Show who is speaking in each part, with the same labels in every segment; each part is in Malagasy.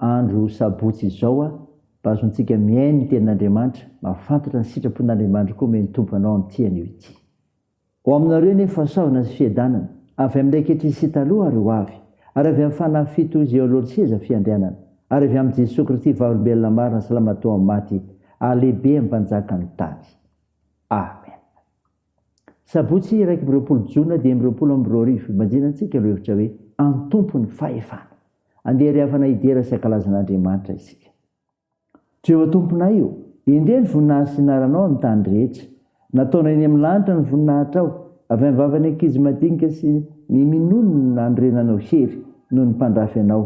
Speaker 1: Andro sabotsy izao a, mba azontsika mihaino ny tenin'Andriamanitra, mahafantatra ny sitrapon'Andriamanitra koa omeny Tompo anao amin'ity anio ity. Ho aminareo anie fahasoavana sy fiadanana, avy amin'ilay ankehitriny sy taloha ary ho avy, ary avy amin'ny fanahy fito izay eo alohan'ny seza fiandrianana, ary avy amin'i Jesoa Kristy vavolombelona marina salama tao amin'ny maty, ary lehibe amin'ny mpanjakan'ny tany. Amena. Sabotsy iraika amby roapolo jona dimy amby roapolo amby roa arivo, ibanjina antsika lohevitra hoe Antompo ny fahefana. Andeha ry havana hidera sy hankalaza an'Andriamanitra isika. Jehovah Tomponay o, endrey ny voninahitry ny anaranao amin'ny tany rehetra. Nataonao eny amin'ny lanitra ny voninahitrao, avy amin'ny vavan'ny ankizy madinika sy ny minono no nanorenanao hery noho ny mpandrafy anao.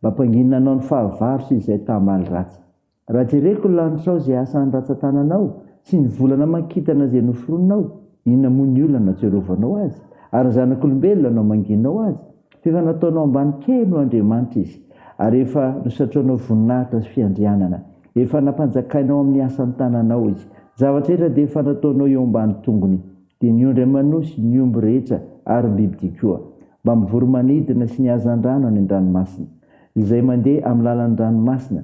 Speaker 1: Mba ampanginina anao ny fahavalo sy izay tahamaly ratsy. Raha jereko ny lanitrao izay asa andratsa-tananao sy ny volana aman-kintana izay noforoninao, inona moa ny olana natsiarovanao azy? Ary ny zanak'olombelona namangianao azy? F'efa nataonao ambany kely ho andriamanitra izy, ary efa nosatroanao voninahitra sy fiandrianana. Efa nampanjakainao amin'ny asan'ny tananao izy. Ny zavatra rehetra dia efa nataonao eo ambany tongony, dia ny ondry aman'osy, ny omby rehetra, ary ny bibidia koa, mbamin'ny voromanidina sy ny hazandrano any an-dranomasina, izay mandeha amin'ny lalan'ny ranomasina.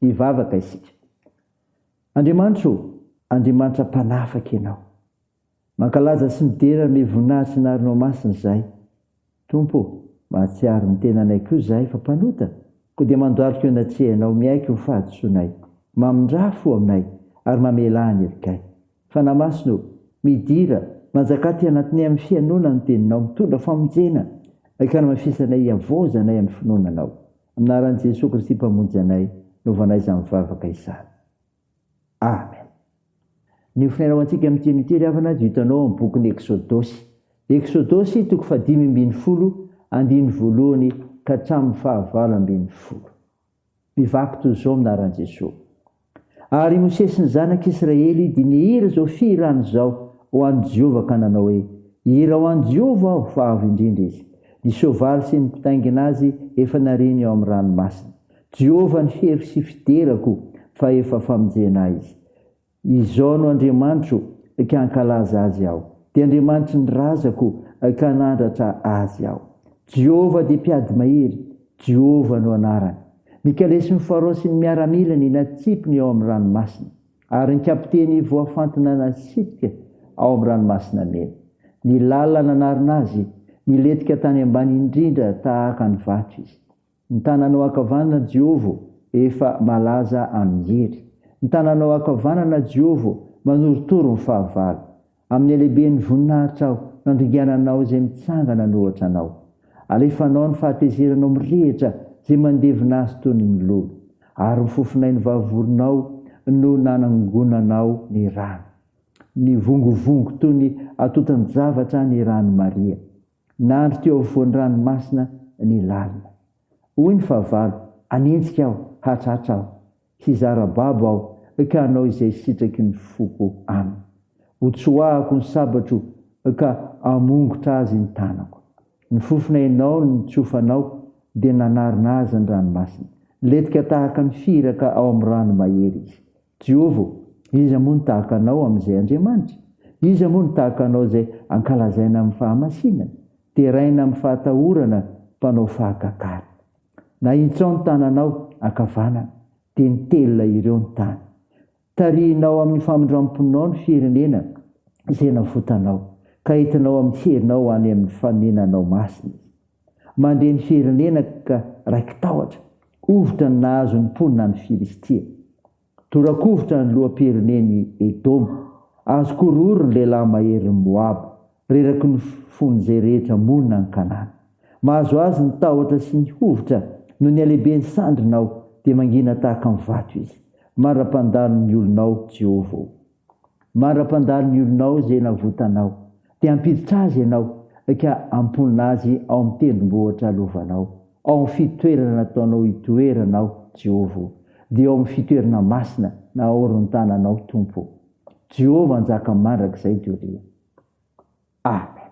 Speaker 1: Hivavaka isika. Andriamanitra ô, Andriamanitra mpanafaka Ianao. Mankalaza sy midera amin'ilay voninahitry ny anaranao masina izahay. Tompo ô, mahatsiaro ny tenanay koa izahay fa mpanota, koa dia mandohalika eo anatrehanao, miaiky ny fahadisoanay, mamindrà fo aminay, ary mamelà ny herikay. Fanahy Masina ô, midira, manjakà aty anatinay amin'ny fihainoana ny Teninao, mitondra famonjena, hankanafisanay, hihavaozanay amin'ny finoana Anao. Amin'ny anaran'i Jesoa Kristy Mpamonjy anay no vanaisa mivavaka izany. Amen. Ny ofinaina ho antsika amin'ity anio ity ry havana dia hitanao amin'ny bokin'ny Eksodosy. Eksodosy toko fahadimy ambin'ny folo, andininy voalohany ka hatramin'ny fahavalo ambin'ny folo. Mivaky toy izao amin'ny anaran'i Jesoa. Ary Mosesy sy ny zanak'i Israely dia nihira izao fihirana izao ho an'i Jehovah ka nanao hoe, Hira ho an'i Jehovah aho, fa avo indrindra izy. Ny soavaly sy ny mpitaingina azy efa nariany ao amin'ny ranomasina. Jehovah ny feriko sy fiderako, fa efa famonjena ahy izy. Izao no Andriamanitro, ka hankalaza azy aho. Dia Andriamanitry ny razako, ka hanandratra azy aho. Jehovah dia mpiady mahery, Jehovah no anarany. Nikalesin'ny Farao sy ny miaramilany natsipy ny ao amin'ny ranomasina, ary ny kapiteny voafantina nasidika ao amin'ny Ranomasina Mena. Ny lalina nanarona azy nilentika tany ambany indrindra tahaka ny vato izy. Ny tananao ankavanana, Jehova, efa malaza amin'ny hery. Ny tananao ankavanana, Jehova, manorotoro ny fahavalo. Amin'ny halehiben'ny voninahitra aho, nandringana anao izay mitsangana an'ohatra anao. Alefanao ny fahatezeranao mirehitra izay mandevina azy toy ny milolo, ary ny fofonay novavorinao no nanangonanao ny rano. Nivongovongo toy ny atotan-javatra ny rano Maria. Nandry teo afovoan'ny ranomasina ny lalina. Hoy ny fahavalo, Anenjika aho, hatratra aho. Hizara babo aho ka hanao izay sitraky ny foko aminy. Hotsoahako ny sabatro ka hamongotra azy ny tanako. Ny fofona ianao no nitsofanao dia nanarona azy ny ranomasina. Letika tahaka ny firaka ao amin'ny rano mahery izy. Jehovah ô, iza moa no tahaka anao amin'izay Andriamanitra? Iza moa no tahaka anao izay ankalazaina amin'ny fahamasinana, deraina amin'ny fahatahorana mpanao fahagatana? Nahitsao ny tananao ankavanana, dia nitelina ireo ny tany. Tarihinao amin'ny famindram-ponao ny firenena izay navotanao, ka entinao amin'ny herinao ho any amin'ny fanenanao masina izy. Mandre ny firenena ka raiki-tahotra, hovitra ny nahazo ny mponina any Filistia. Tora-kovitra ny loham-pirenen'i Edoma, azo korohoro ny lehilahy maherin'i Moaba, reraky ny fon'izay rehetra monina any Kanana. Mahazo azy ny tahotra sy ny hovitra noho ny halehiben'ny sandrinao, dia mangina tahaka ny vato izy. Mandra-pandalo ny olonao, Jehovah ô! Mandra-pandalo ny olonao ze navotanao, de hampiditra azy ianao ka hamponina azy ao amin'ny tendrombohitra lovanao, ao amin'ny fitoerana nataonao hitoerana aho, Jehovah ô, dia ao amin'ny fitoerana masina naorintananao, Tompo ô. Jehovah hanjaka mandrakizay doria. Amen.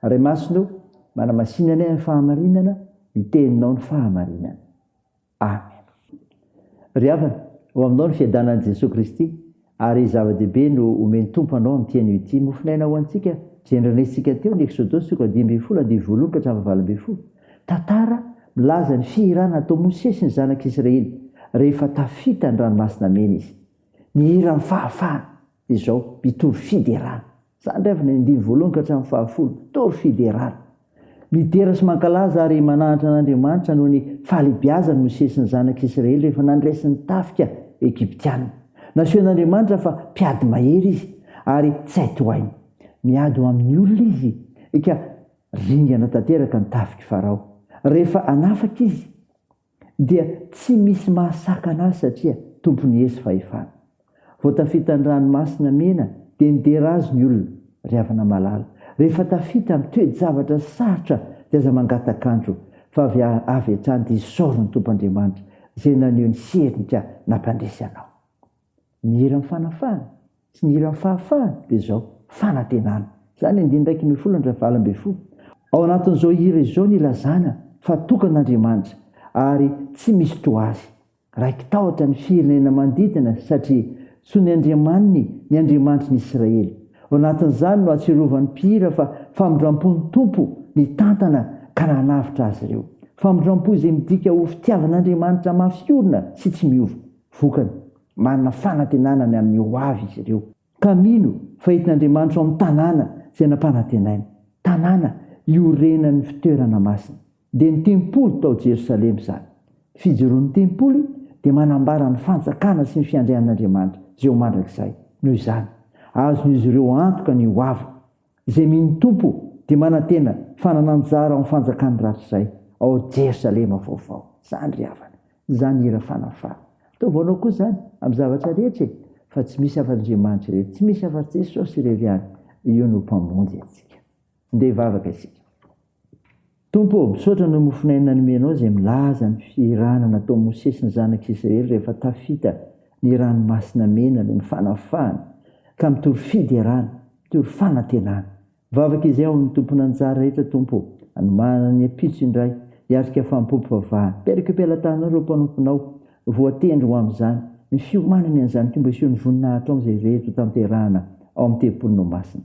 Speaker 1: Ray Masina ô, manamasinana ahy amin'ny fahamarinana, ny Teninao ny fahamarinana. Amen. Ry havana, ho aminao ny fiadanan'i Jesoa Kristy, ary zava-dehibe no omen'ny Tompo anao amin'ity anio ity, mofon'aina ho antsika, izay nandrenesintsika teo ny Eksodosy soko dimy ambin'ny folo andivo voalohany ka hatramin'ny valo ambin'ny folo. Tantara milaza ny fihirana nataon'i Mosesy sy ny zanak'Israely rehefa tafita ny Ranomasina Mena izy. Ny hiran'ny fahafahana. izao mpitory fiderana. Za ndray avy nandiny voalohany ka hatramin'ny fahafolo, mpitory fiderana. Midera sy mankalaza ary manahantra an'Andriamanitra noho ny fahalehibiazany Mosesy ny zanak'i Israely rehefa nandresy ny tafika Egyptiana. Nasehon'Andriamanitra fa mpiady mahery izy ary tsy hay tohaina. Miady ho amin'ny olona izy, eka, ringana tanteraka ny tafik'i Farao rehefa hanafaka izy. dia tsy misy mahasakana azy satria tompon'ny hery sy fahefana. Vao tafita ny ranomasina mena dia nidera azy ny olona, ry havana malala. Rehefa tafita amin'ny toe-javatra sarotra dia aza mangatak'andro fa avy avy hatrany dia isaory ny Tompo Andriamanitra izay naneho ny sery ny ka nampandresy anao. Ny hiran'ny fanafahana sy ny hiran'ny fahafahana dia izao, fanantenana. Izany andiany iraika ambin'ny folo andrin'ny fahavalo ambin'ny folo. Ao anatin'izao hira izao no ilazana fa tokana Andriamanitra ary tsy misy toa Azy. Raiki-tahotra ny firenena manodidina satria tsy ny Andriamaniny ny Andriamanitry ny Israely. Ao anatin'izany no ahatsiarovan'ny mpihira fa famindrampon'ny Tompo nitantana ka nanavotra azy ireo. Famindrampo izay midika ho fitiavan'Andriamanitra mafy orina sy tsy miova. Vokany, manana fanantenana ny amin'ny ho avy izy ireo, ka mino fa entin'Andriamanitra ao amin'ny tanàna izay nampanantenainy, tanàna iorenan'ny fitoerana masina. Dia ny tempoly tao Jerosalema izany. Ny fijoroan'ny tempoly dia manambara ny Fanjakana sy ny fiandrian'Andriamanitra izay ho mandrakizay. Noho izany, azon'izy ireo antoka ny ho aviny. Izay mino ny Tompo dia manantena fanana anjara ao amin'ny fanjakan'ny ratsizay ao Jerosalema vaovao. Izany ry havana, izany hira fanafahana. Ataovy anao koa izany amin'ny zavatra rehetra e! Fa tsy misy afa-Andriamanitra irery, tsy misy afa-Jesosy irery ihany, io no Mpamonjy antsika. Ndeha hivavaka isika. Tompo ô, misaotra noho ny mofon'aina nomenao izay milaza ny fihirana nataon'i Mosesy ny zanak'Israely rehefa tafita ny Ranomasina Mena noho ny fanafahana ka mitory fiderana, mitory fanantenana. Mivavaka izay ao amin'ny tompon'anjara rehetra Tompo ô, hanomana ny ampitso indray hiatrika fanompoam-pivavahana. Pelekopela-tananao ireo mpanomponao voatendry ho amin'izany, ny fiomanany an'izany koa mba hisehoan'ny voninahitrao amin'izay rehetra hotanterahana ao amin'ny tempolinao masina.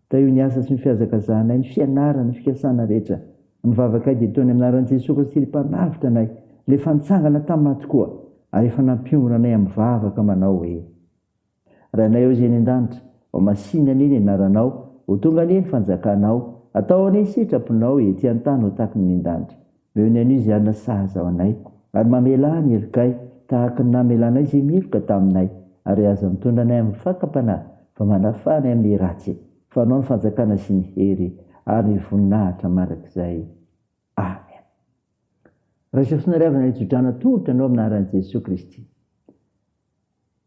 Speaker 1: Ka io niasa sy ny fihazakazahanay, ny fianarana, ny fikasana rehetra. Ny vavakay dia toa ny anaran'i Jesoa Kristy ilay Mpanavotra anay, ilay efa nitsangana tamin'ny maty koa ary efa nampionona anay amin'ny vavaka manao hoe, Rainay ao izay any an-danitra, ho masìna anie ny anaranao, ho tonga anie ny fanjakanao, atao anie ny sitraponao, ety an-tany ho tahaka ny any an-danitra. Noho ny anio izay anasazy ao anay. Ary mamelà ny herokay, tahaka ny namelànay izay miheroka taminay. Ary aza mitondra anay amin'ny fakam-panahy, fa manafà anay amin'ny ratsy. Fa anao ny fanjakana sy ny hery ary ny voninahitra mandrakizay. Amen. Raiso f'nariavana nitso-drano atolotra anao amin'ny anaran'i Jesoa Kristy.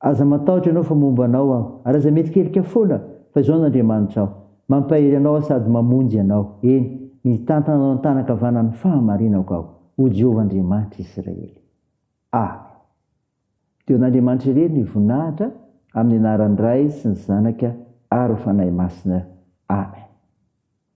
Speaker 1: Aza matahotra ianao fa momba anao aho, ary aza mierikerika foana fa izao no Andriamanitra aho, mampahery anao aho sady mamonjy anao, eny, mitantana anao an-tanana ankavanan'ny fahamarinako aho, O Jehovah Andriamanitra Israely. Amen. Dia ho an'Andriamanitra irery ny voninahitra, amin'ny anaran'ny Ray sy ny Zanaka ary ny Fanahy Masina. Amen.